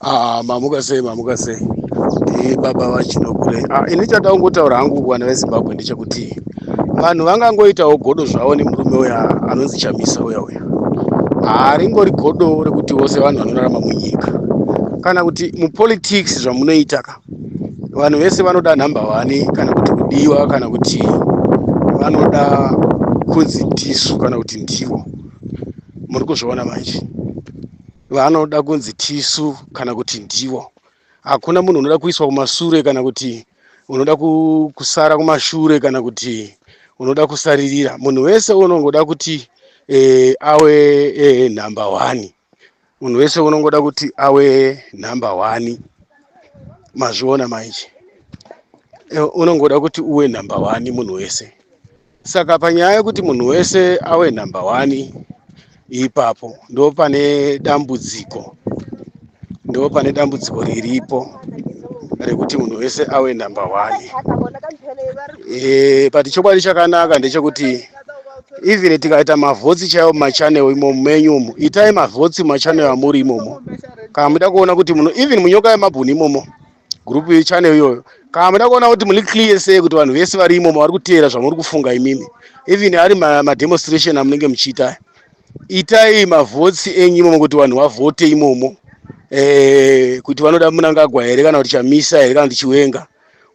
Ah, mamuka sei mamuka sei e, baba vachinokure ah, ini chada kungotaura hangu vana vezimbabwe ndechekuti vanhu vangangoitawo godo zvavo nemurume uya anonzi chamisa uya uya haringori godo rekuti vose vanhu vanorarama munyika kana kuti mupolitics zvamunoita ka vanhu vese vanoda nhamba wani kana kuti kudiwa kana kuti vanoda kunzi ndisu kana kuti ndivo muri kuzviona manje vanoda kunzi tisu kana kuti ndivo hakuna munhu unoda kuiswa kumasure kana kuti unoda kusara kumashure kana kuti unoda kusaririra munhu wese unongoda kuti e, awe e, number one munhu wese unongoda kuti awe number one mazviona manje eh, unongoda kuti uwe number one munhu wese saka panyaya yekuti munhu wese awe number one ipapo ndo pane dambudziko ndo pane dambudziko riripo rekuti munhu wese awe number one e, but chokwadi chakanaka ndechekuti even tikaita mavhotsi chaiwo mumachanel imomo menyu umo itai mavhotsi mumachanel amuri imomo kana muda kuona kuti muno even munyoka yemabhuni imomo group yechannel iyoyo kana muda kuona kuti muri clear sei kuti vanhu vese vari imomo vari kuteera zvamuri kufunga imimi even ari ma- mademonstration amunenge muchiita aya. itai mavhotes enyu imomo kuti vanhu vavhote imomo eh, kuti vanoda munangagwa here kana kuti chamisa here kana kuti chiwenga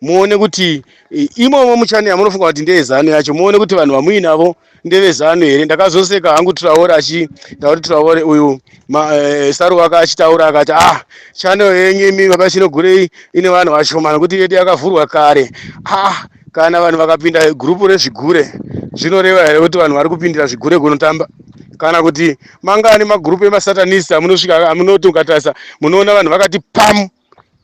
muone kuti i- imomo muchani yamunofunga kuti ndeyezanu yacho muone kuti vanhu vamuinavo ndevezanu here ndakazoseka hangu traore achitaura kuti traore uyu ma- eh, saru wake achitaura akati ah chano yenyu imi baba chinogurei ine vanhu vashomana kuti yedu yakavhurwa kare ah kana vanhu vakapinda gurupu rezvigure zvinoreva here kuti vanhu vari kupindira zvigure kunotamba kana kuti mangani magurupu emasatanist amunosvika amunoti ukatarisa munoona vanhu vakati pamu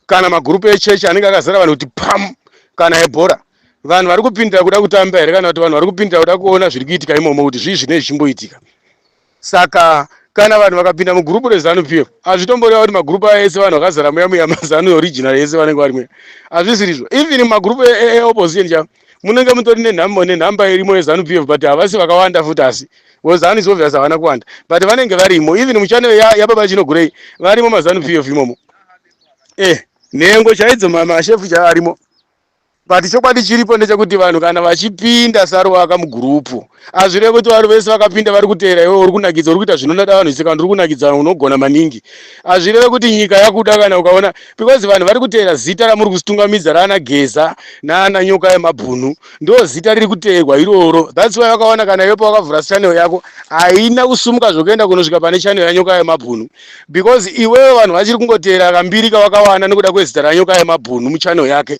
kana magurupu echechi anenge akazara vanhu kuti pam kana ebhora vanhu vari kupindira kuda kutamba here kana kuti vanhu vari kupindira kuda kuona zviri kuitika imomo kuti zvii zvinei zvichimboitika saka kana vanhu vakapinda mugurupu rezanu pf hazvitomboreva kuti magurupu aya ese vanhu vakazara muya muya mazanu original ese vanenge vari muya hazvisirizvo even magurupu eopposition e, e, chavo munenge mutori nenhamba nenhamba irimo yezanu pf but havasi vakawanda futi asi wezanu is obvious havana kuwanda but vanenge varimo even muchane yababa ya chinogurei varimo mazanu pf imomo eh nhengo chaidzo mashefu chaarimo but chokwadi chiripo ndechekuti vanhu kana vachipinda saruvaka mugurupu hazvireve kuti vanhu vese vakapinda vari kuteera iwe uri kunakidza uri kuita zvinonada vanhu sika ndiri kunakidza unogona maningi hazvireve kuti nyika yakuda kana ukaona because vanhu vari kuteera zita ramuri kusitungamidza raana geza naana nyoka yemabhunu ndo zita riri kuteerwa iroro thats why wakaona kana iwe pawakavhura channel yako haina kusumuka zvokuenda kunosvika pane channel yanyoka yemabhunu because iwewe vanhu vachiri kungoteera kambiri kawakawana nekuda kwezita ranyoka yemabhunu muchannel yake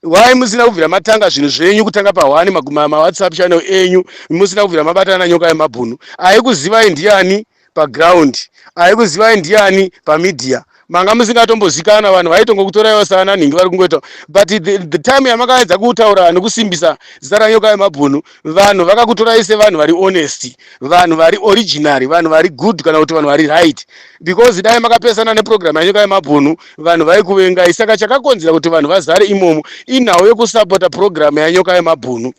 Why musina kubvira matanga zvinhu zvenyu kutanga pa one maguma ma WhatsApp channel enyu musina kubvira mabatana nyoka yemabhunu ayikuzivai ndiyani pa ground ayikuzivai ndiyani pa media manga musingatombozikana vanhu vaitongokutoraiwo saana nhingi vari kungoita but the, the time yamakaedza kutaura nekusimbisa zita ranyoka yemabhunu vanhu vakakutorai sevanhu vari honest vanhu vari originary vanhu vari good kana kuti vanhu vari right because dai makapesana neprogram yanyoka yemabhunu vanhu vaikuvengai saka chakakonzera kuti vanhu vazare imomo inhau yekusapota program yanyoka yemabhunu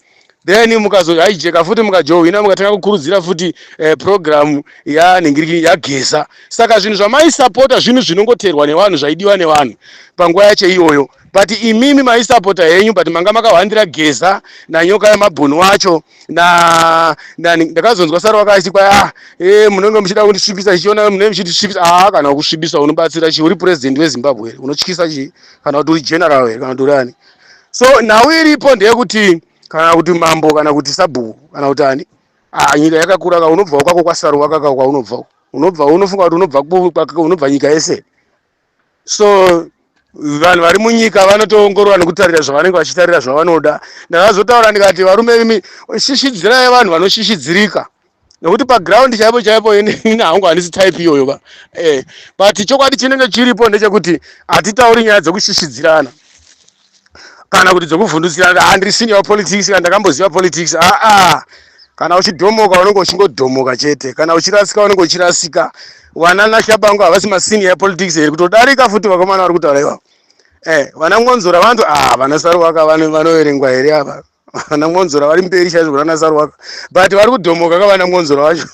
then mukazohaijeka futi mukajohwina mukatanga kukurudzira futi eh, program yanhingiriki yageza saka zvinhu zvamaisapota zvinhu zvinongoterwa nevanhu zvaidiwa nevanhu panguva yacho iyoyo but imimi maisapota henyu but manga makahwandira geza nanyoka yamabhunu wacho na nani ndakazonzwa sara wakasikwa a ah, e eh, munenge muchida kundisvibisa chichiona munenge muchitisvibisa a ah, kana kusvibisa unobatsira chi uri president wezimbabwe here unotyisa chi kana kuti uri general here kana kuti urani so nhau iripo ndeyekuti kana kuti mambo kana kuti sabhuku kana kuti ani ah, nyika yakakura ka unobvawo kwako kwasaru wakaka kwaunobvawo unobva unofunga kuti unobva unobva nyika yese so vanhu vari munyika vanotoongorora nekutarira zvavanenge vachitarira zvavanoda ndakazotaura ndikati varume imi shishidzirai vanhu vanoshishidzirika nekuti paground chaipo chaipo ini hangu handisi type iyoyo ka eh, but chokwadi chinenge chiripo ndechekuti hatitauri nyaya dzekushishidzirana kana kuti dzokuvhundutsira handisini ah, yapolitics kana ndakamboziva politics aa ah, ah. kana uchidhomoka unenge uchingodhomoka chete kana uchirasika unenge uchirasika vana nashabangu havasi masini yapolitics here kutodarika futi vakomana vari kutaura ivavo e eh, vana ngonzora vantu a vana saruvaka vanoverengwa here ava vana mwonzora vari mberi chaizvo kuna nasarwaka but vari kudhomoka ka vana mwonzora vacho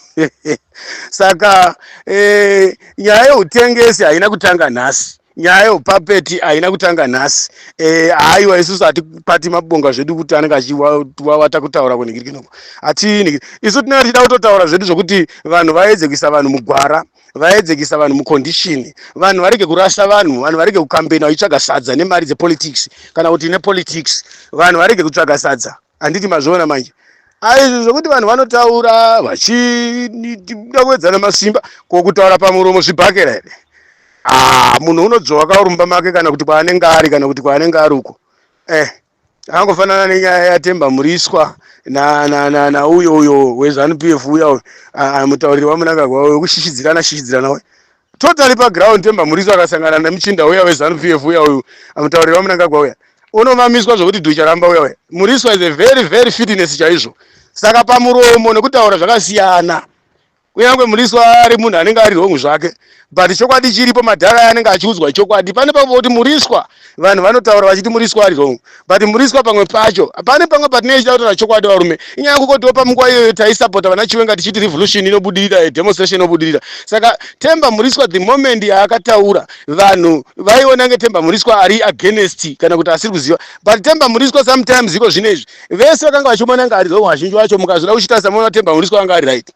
saka eh, nyaya yeutengesi haina kutanga nhasi nyaya yeupapeti haina kutanga nhasi eh, haiwa isusu hatipati mabonga zvedu kuti anenge achiwawata kutaura kunhingirikinoku hatii isu tinenge tichida kutotaura zvedu zvokuti vanhu vaedze kuisa vanhu mugwara vaedzekisa vanhu mucondition vanhu varege kurasa vanhu vanhu varege kukambena vachitsvaga sadza nemari dzepolitics kana kuti nepolitics vanhu varege kutsvaga sadza handiti mazviona manje aizvi zvekuti vanhu vanotaura vachida kuedzana masimba ko kutaura pamuromo zvibhakera here ah, munhu unodzvova kaurumba make kana kuti kwaanenge ari kana kuti kwaanenge ari uko eh angofanana nenyaya yatemba muriswa nauyo uyo wezanu p f uya mutauriri wamunangagwa uyo wekushishidzirana shishidzirana uyo totally paground temba muriswa akasangana nemuchinda uya wezanu p f uya uyo mutauriri wamunangagwa uya unomamiswa zvokuti ducharamba uya uya muriswa is a very very fitness chaizvo saka pamuromo nekutaura zvakasiyana kunyange muriswa ari munhu anenge ari wrong zvake but chokwadi chiripo madhara aya anenge achiudzwa chokwadi pane pamwe kuti muriswa vanhu vanotaura vachiti muriswa ari wrong but muriswa pamwe pacho pane pamwe patinenge tichida kutaura chokwadi varume inyaya kukotiwo pamunguva iyoyo taisapota vana chiwenga tichiti revolution inobudirira eh, demonstration inobudirira saka temba muriswa the moment yaakataura vanhu vaiona nge temba muriswa ari against kana kuti asiri kuziva but temba muriswa sometimes iko zvine izvi vese vakanga vachimona nga ari wrong vazhinji vacho mukazvida kuchitarisa moona temba muriswa anga ari right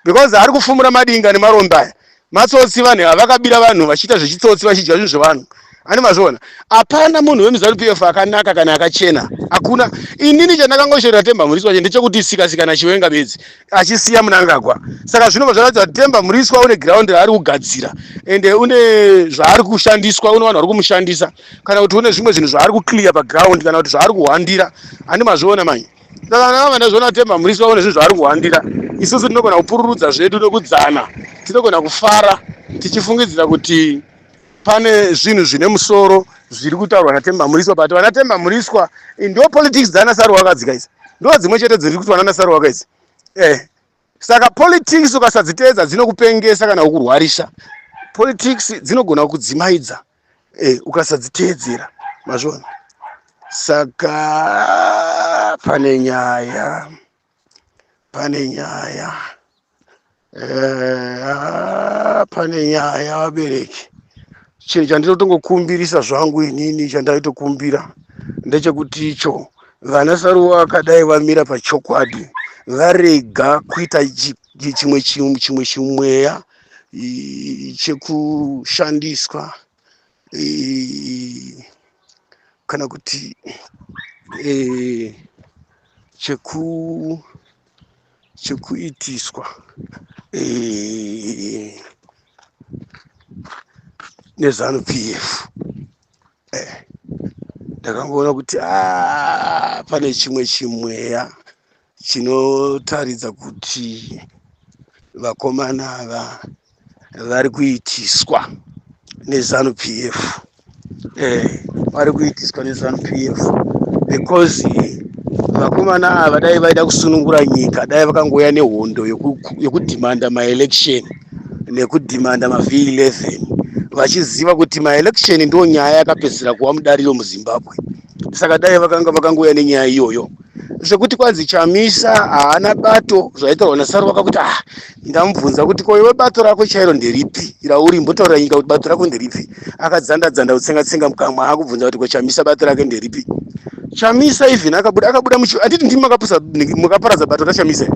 because ari kufumura madinga nemarombe aya matsotsi vanhu ava vakabira vanhu vachiita zvechitsotsi vachidya zvinhu zvevanhu ani mazviona hapana munhu wemuzanu p f akanaka kana akachena hakuna inini chandakangosherera temba muriswa wacho ndechekuti sikasikana chiwenga bedzi achisiya munangagwa saka zvinobva zvaratidza kuti temba muriswa une giraundi raari kugadzira ende une zvaari kushandiswa une vanhu vari kumushandisa kana kuti une zvimwe zvinhu zvaari kuclear paground kana kuti zvaari kuhwandira ani mazviona manye Saka kana vamwe ndazviona kuti Temba Mriswa une zvinhu zvaari kuhwandira, isusu tinogona kupururudza zvedu nokudzana. Tinogona kufara tichifungidzira kuti pane zvinhu zvine musoro zviri kutaurwa naTemba Mriswa but vana Temba Mriswa eh, ndo politics dzana Saruwakadzika idzi. Ndo dzimwe chete dziri kuitwa nana Saruwaka idzi. Eh. Saka politics ukasadziteedza dzinokupengesa kana kukurwarisa. Politics dzinogona kukudzimaidza. eh, ukasadziteedzera mazvona saka pane nyaya pane nyaya eh, ah, pane nyaya vabereki chinhu chandinotongokumbirisa zvangu inini chandaitokumbira ndechekuti icho vana saruwa akadai vamira pachokwadi varega kuita chimwe chimwe chimweya chekushandiswa kana kuti cheku chekuitiswa nezanu p f ndakangoona kuti ah, pane chimwe chimweya chinotaridza kuti vakomana ava vari kuitiswa nezanu p f eh, vari kuitiswa nezanu p f because vakomana ava dai vaida kusunungura nyika dai vakangouya nehondo yekudhimanda maelection nekudhimanda mav 11 vachiziva kuti maelection ndo nyaya yakapedzisira kuva mudariro muzimbabwe saka dai vakanga vakangouya nenyaya iyoyo sekuti kwanzi chamisa haana bato zvaitaurwa nasaruvaka kuti ah ndamubvunza kuti ko iwe bato rako chairo nderipi rauri mbotaurira nyika kuti bato rako nderipi akadzanda dzanda kutsenga tsenga mukamwa akubvunza kuti ko chamisa bato rake nderipi chamisa even akabuda akabuda muchi anditi ndimi makapusa makaparadza bato rachamisa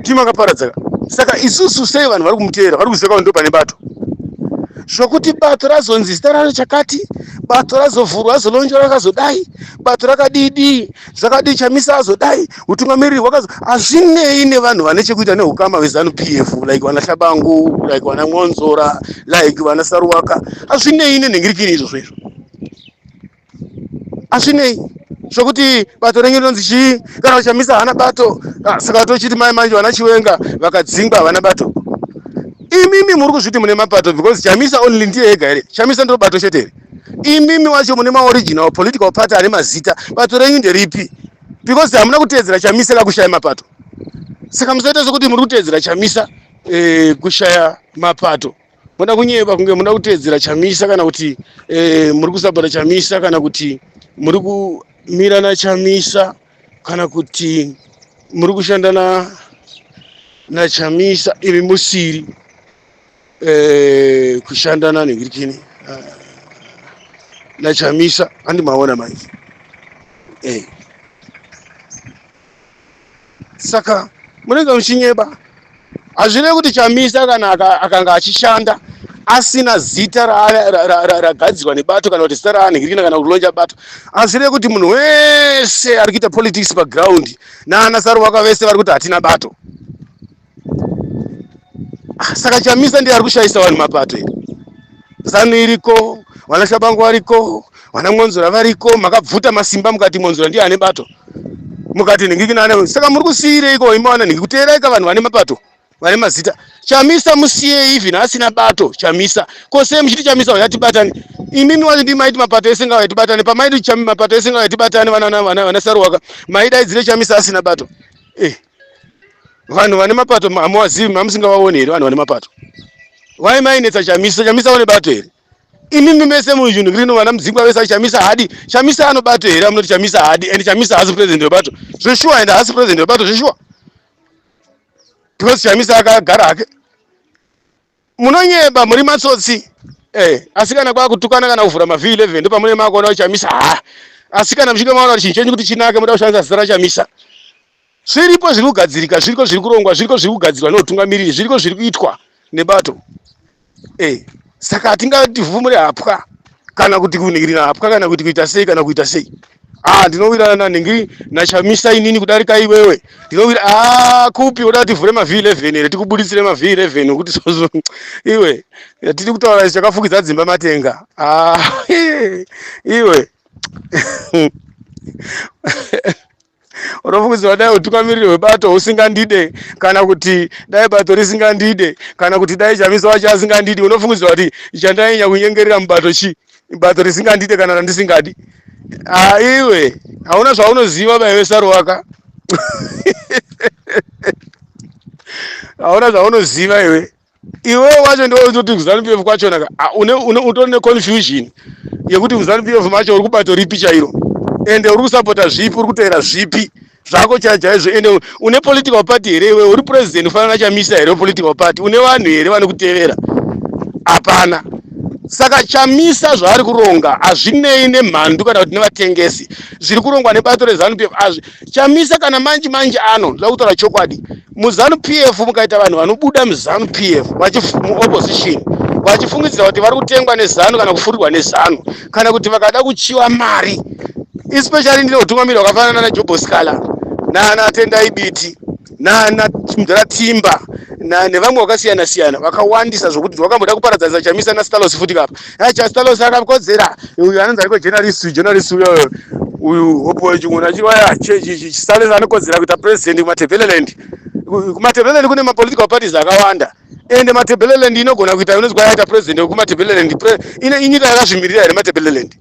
ndimi makaparadza saka isusu sei vanhu vari kumuteera vari kuziva kuti ndo pane bato zvokuti bato razonzi zita raro chakati bato razovhurwa azolonjora akazodai bato rakadidii zvakadii chamisa azodai utungamiriri hwakazo hazvinei nevanhu vane chekuita neukama hwezanu p f like vana hlabangu like vana mwonzora like vana saruwaka hazvinei nenhingirikini izvozvo izvo hazvinei zvokuti bato renyu rinonzi chii kana uchamisa hana bato ah, saka vatochiti mai manje vana chiwenga vakadzingwa havana bato imimi muri kuzviti mune mapato because chamisa only ndiye ega here chamisa ndiro bato chete here imimi wacho mune maoriginal political party ane mazita bato renyu nderipi because hamuna kuteedzera chamisa kakushaya mapato saka musaita sekuti muri kuteedzera chamisa eh, kushaya mapato moda kunyeba kunge muda kuteedzera chamisa kana kuti eh, muri kusapota chamisa kana kuti muri kumira nachamisa kana kuti muri kushanda na nachamisa imi musiri eh, kushanda nani ngirikini uh, ah, nachamisa andimaona manje eh. saka munenge muchinyeba hazvirevi kuti chamisa kana akanga achishanda asina zita ragadzirwa nebato kana kuti zita raanhirikina kana kulonja bato hazvirevi kuti munhu wese ari kuita politics paground naana saruwaka vese vari kuti hatina bato Ah, saka chamisa ndiye ari kushayisa vanhu mapato here zanu iriko vana shabangu variko vana mwonzora variko makabvuta masimba mukati mwonzora ndiye ane bato mukati nhingikinana saka muri kusiyireiko imi vana nhingi kuteeraika vanhu vane mapato vane mazita chamisa musiyei even asina bato chamisa ko sei muchiti chamisa uya tibatane imimi wacho ndi maiti mapato ese ngauya tibatane pamaiti chami mapato ese ngauya tibatane vana vana vana vana saruwaka maidaidzire chamisa asina bato eh vanhu vane mapato hamuwazivi mamusingavaone here vanhu vane mapato why mainetsa chamisa chamisa une bato here imimi mese muzvinhu rino vana mudzingwa vese chamisa hadi chamisa anobato here amunoti chamisa hadi and chamisa haasi president webato zveshuwa and haasi president webato zveshuwa because chamisa akagara hake Munonyeba muri matsotsi. Eh, asi kana kwakutukana kana kuvhura mavhi 11 ndo pamune makuona uchamisa. Ha. Asi kana mchinge maona kuti chinhu chenyu kuti chinake muda kushandisa zita rachamisa. Zviripo zviri kugadzirika, zviriko zviri kurongwa, zviriko zviri kugadzirwa neutungamiriri, zviriko zviri kuitwa nebato. Eh, saka hatingati vhumure hapwa. kana kuti kunhingirina hapwa kana kuti kuita sei kana kuita sei ah ndinowirana nanhingi nachamisa inini kudarika iwewe ndinowira ah kupi unoda tivhure ma v11 here tikubuditsire ma v11 okuti sozo iwe tiri kutaura isu chakafukidza dzimba matenga ah iwe unofungidzirwa dai utungamiriri hwebato husingandide kana kuti dai bato risingandide kana kuti dai chamisa wacho asingandidi unofungidzirwa kuti chandainya kunyengerera mubato chi bato risingandide kana randisingadi aiwe hauna zvaunoziva baive saruwaka hauna zvaunoziva iwe iwewe wacho ndiwe unoti kuzanu pf kwachona ka ah, une- une- utori neconfusion yekuti kuzanu pf macho uri kubato ripi chairo ende uri kusapota zvipi uri kuteera zvipi zvako chai chaizvo ende une political party here iwewe uri president ufanana nachamisa here political party une vanhu here vanokutevera hapana saka chamisa zvaari kuronga hazvinei nemhandu kana kuti nevatengesi zviri kurongwa nebato rezanu pf azvi chamisa kana manje manje ano zvakutora chokwadi muzanu pf mukaita vanhu vanobuda muzanu pf muopposition vachifungidzira kuti vari kutengwa nezanu kana kufurirwa nezanu kana kuti vakada kuchiwa mari especially ndine utungamiri hwakafanana najoboscala naanatendai biti nana mdara timba nevamwe vakasiyana siyana vakawandisa zvokuti wakamboda kuparadzanisa chamisa nastalos futi kapa Hey, just tell us how come there. You are not going journalist, journalist. Uyu hopo chingona chiwaya chisales anokodzera kuita president kumatebeleland kumatebeleland kune mapolitical parties akawanda ende matebeleland inogona kuita inonzi kwayaita president wekumatebeleland ine inyika yakazvimirira here matebeleland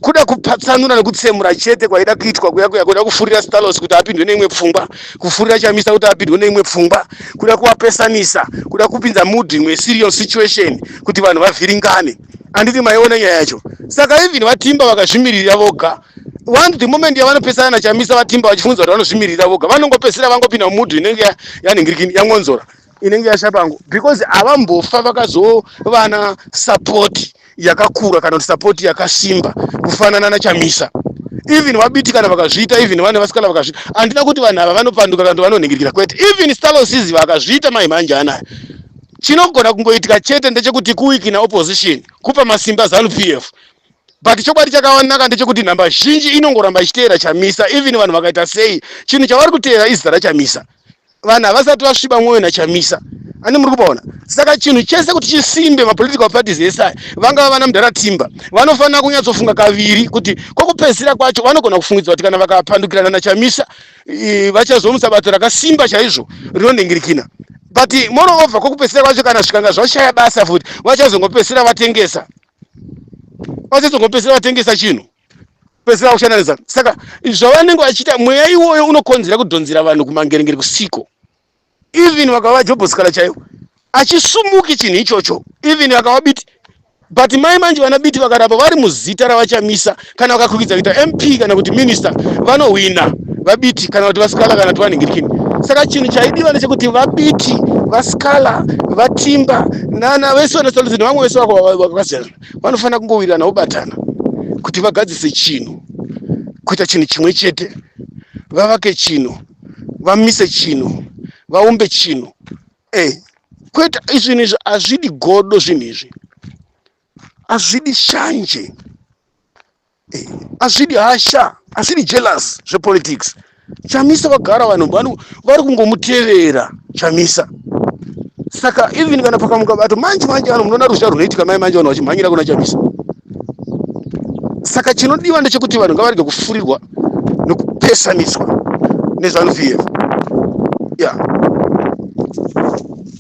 kuda kupatsanura nekutsemura chete kwaida kuitwa kuya kuya kuda kufurira stalos kuti apindwe neimwe pfungwa kufurira chamisa kuti apindwe neimwe pfungwa kuda kuvapesanisa kuda kupinza mood imwe serious situation kuti vanhu vavhiringane anditi maiona nyaya yacho saka even vatimba vakazvimiririra voga one the moment yavanopesana nachamisa vatimba vachifunza kuti vanozvimiririra voga vanongopesera vangopinda mumudhu inenge yaningirikini yangonzora inenge yasha pangu because havambofa vakazovana support yakakura kana kuti support yakasimba kufanana nachamisa even vabiti kana vakazviita even vane vasikana vakazviita handina kuti vanhu ava vanopanduka kana kuti vanonhingirikira kwete even stalosis vakazviita mai mhanje anayo chinogona kungoitika chete ndechekuti kuwikina opposition kupa masimba zanu p f but chokwadi chakawanaka ndechekuti nhamba zhinji inongoramba ichiteera chamisa even vanhu vakaita sei chinhu chavari kuteera izita rachamisa vanhu havasati vasviba mwoyo nachamisa ani muri kupaona saka chinhu chese kuti chisimbe mapolitical parties ese aya vangava vana mudhara timba vanofanira kunyatsofunga kaviri kuti kwokupedzisira kwacho vanogona kufungidza kuti kana vakapandukirana nachamisa vachazomutsa bato rakasimba chaizvo rinonhingirikina but moreover kwokupedzisira kwacho kana zvikanga zvashaya basa futi vachazongopedzisira vatengesa vachazongopedzisira vatengesa chinhu pedzisira kuchanalisa saka zvavanenge vachiita mweya iwoyo unokonzera kudhonzera vanhu kumangerengere kusiko even vakava jobhosikala chaivo achisumuki chinhu ichocho even vakava biti but mai manje vana biti vakaramba vari muzita ravachamisa kana vakakwikidza kuita mp kana kuti minister vanohwina vabiti kana kuti vasikala kana kuti vanhingirikini saka chinhu chaidiwa nechekuti vabiti vasikala vatimba nana vese vanasoluzini vamwe vese vakasiyana vanofanira kungowirirana vobatana kuti vagadzise chinhu kuita chinhu chimwe chete vavake chinhu vamise chinhu vaumbe chinhu e kwete izvinhu izvi hazvidi godo zvinhu izvi hazvidi shanje azvidi hasha azvidi jealous zvepolitics chamisa vagara vanhu vanhu vari kungomutevera chamisa saka even kana pakamuka bato manje manje vanhu munoona ruzha runoitika mai manje vanhu vachimhanyira kuna chamisa saka chinodiwa ndechekuti vanhu ngavarege kufurirwa nekupesaniswa nezvanu pf yeah.